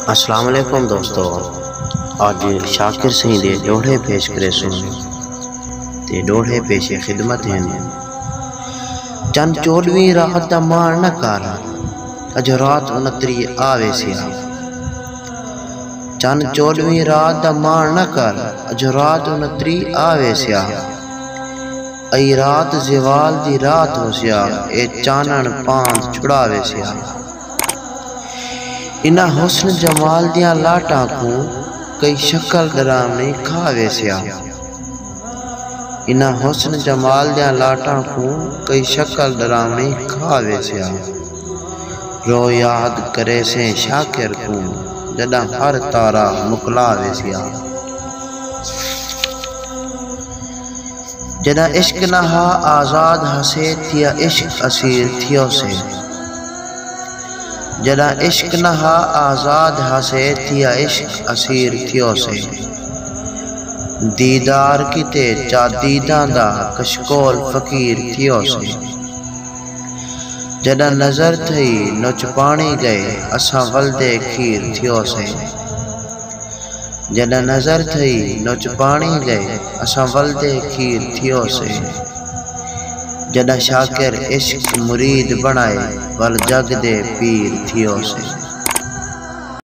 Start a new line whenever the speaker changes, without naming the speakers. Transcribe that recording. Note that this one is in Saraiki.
السلام علیکم دوستو آج شاکر سنگھ دے ڈوڑھے پیش کرے سن تے ڈوڑھے پیش خدمت ہیں چن چوڑوی رات دا مار نہ کر اج رات انتری آوے سیا چن چوڑوی رات دا مار نہ کر اج رات انتری آوے سیا ائی رات زوال دی رات ہو سیا اے چانن پاند چھڑاوے سیا انہاں حسن جمال دیاں لاٹاں کوں کئی شکل ڈراوݨی کھا ویسیا۔ انہاں حسن جمال دیاں لاٹاں کوں کئی شکل ڈراوݨی کھا ویسیا۔ رو یاد کریسیں شاکر کوں جݙاں ہر تارا مکلا ویسیا۔ جݙاں عشق نہ ہا آزاد ہسے تھیا عشق اسیر تھیوسے جݙاں عشق نہ ہا آزاد ہسے تھیا عشق اسیر تھیوسے دیدار کیتے چا دیداں دا کشکول فقیر تھیوسے جݙاں نظر تھئی نچ پاݨی ڳئے اساں ولدے کھیر تھیوسے۔ جݙاں نظر تھئی نچ پاݨی لے اساں ولدے کھیر تھیو سے جݙاں شاکر عشق مرید بݨائے ول جڳ دے پیر تھیو سے۔